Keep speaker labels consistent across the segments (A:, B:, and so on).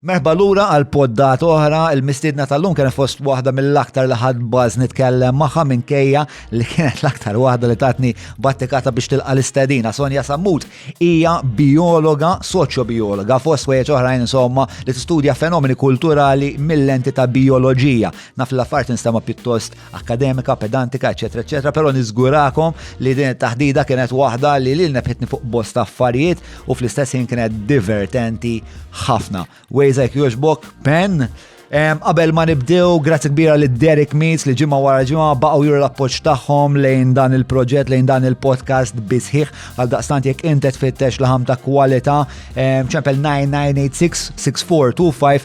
A: Merħba lura għal poddat oħra, il-mistiedna tal-lum kien fost waħda mill-aktar li ħadd baż nitkellem magħha minkejja li kienet l-aktar waħda li tatni battikata biex tilqa l-istedina. Sonja Sammut hija biologa, soċjobiologa, fost wejjeġ oħrajn insomma li tistudja fenomeni kulturali mill-lenti ta' bioloġija. Naf l-affarijiet nistema' pjuttost akkademika, pedantika, eċetera, eċetera, però niżgurakom li din it-taħdida kienet waħda li lil nefħitni fuq bosta affarijiet u fl-istess ħin kienet divertenti ħafna. Wejzek joġbok, pen, Qabel ma nibdew, grazzi kbira li Derek Meets li ġimma wara ġimma baqgħu juru l-appoġġ tagħhom lejn dan il-proġett, lejn dan il-podcast bisħiħ għal daqstant jekk intet fittex laħam ta' kwalità ċempel 9986 6425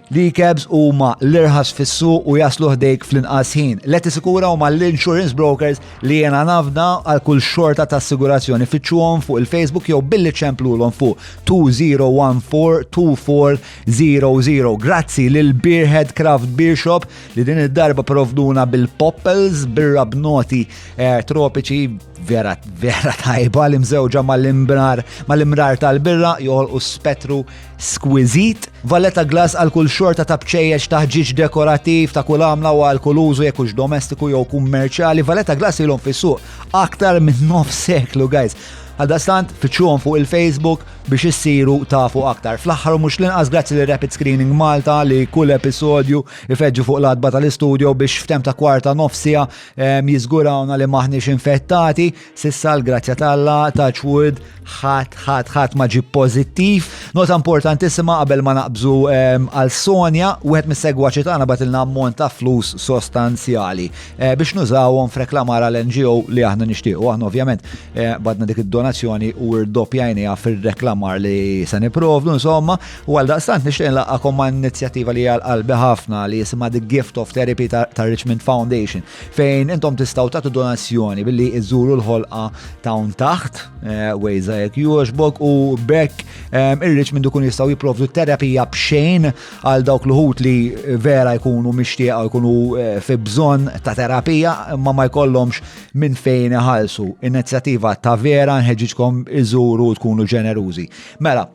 A: L-e-cabs huma l-irħas fis-suq u jaslu ħdejk fl-inqas ħin. Leti Sikura huma l-insurance brokers li jena nafda għal kull xorta ta' assigurazzjoni fittxuhom fuq il-Facebook jew billi ċemplulhom fuq 20142400. Grazzi lil Beerhead Craft Beer Shop li din id-darba provduna bil-poppels birra b'noti eh, tropiċi vera vera tajba li mżewġa mal-imrar tal-birra joħolqu spettru Squiżit, Valletta glass għal kull xorta ta' bċejjeċ ta' ħġieġ dekorattiv ta' kull għamla u għal kull użu jekk hux domestiku jew kummerċjali. Valletta glass ilhom fis-suq aktar minn nof seklu, guys. Għaldaqstant, fittxuhom fuq il-Facebook biex issiru tafu aktar. Fl-aħħar mhux l-inqas grazzi li Rapid Screening Malta li kull episodju ifeġġu fuq l-adba tal-istudio biex f'tem ta' kwarta nofsija jiżgurawna li maħniex infettati. Sissa l-grazzja talla ta' ċwud ħat ħat ħat ma ġib pozittiv. Nota importantissima qabel ma naqbżu ehm, għal Sonja, wieħed mis-segwaċi tagħna batilna ammont ta' flus sostanzjali eh, biex nużawhom f'reklamar għal NGO li aħna nixtiequ. Aħna ovvjament eh, badna dik id-donazzjoni u rdoppjajniha fir-reklamar li se niprovdu insomma u għal daqstant nixtieq nlaqgħakom ma' inizjattiva li għal qalbi ħafna li jisimha The Gift of Therapy ta' Richmond Foundation fejn intom tistaw tagħtu donazzjoni billi iżuru l-ħolqa tawn taħt eh, wejza jekk jogħġbok u bekk eh, irriċ minn dukun jistgħu jipprovdu terapija b'xejn għal dawk l-ħut li vera jkunu mixtieqa jkunu eh, fi bżonn ta' terapija ma ma jkollhomx minn fejn iħallsu. Inizjattiva ta' vera nħeġġiġkom iżuru tkunu ġenerużi. Mela,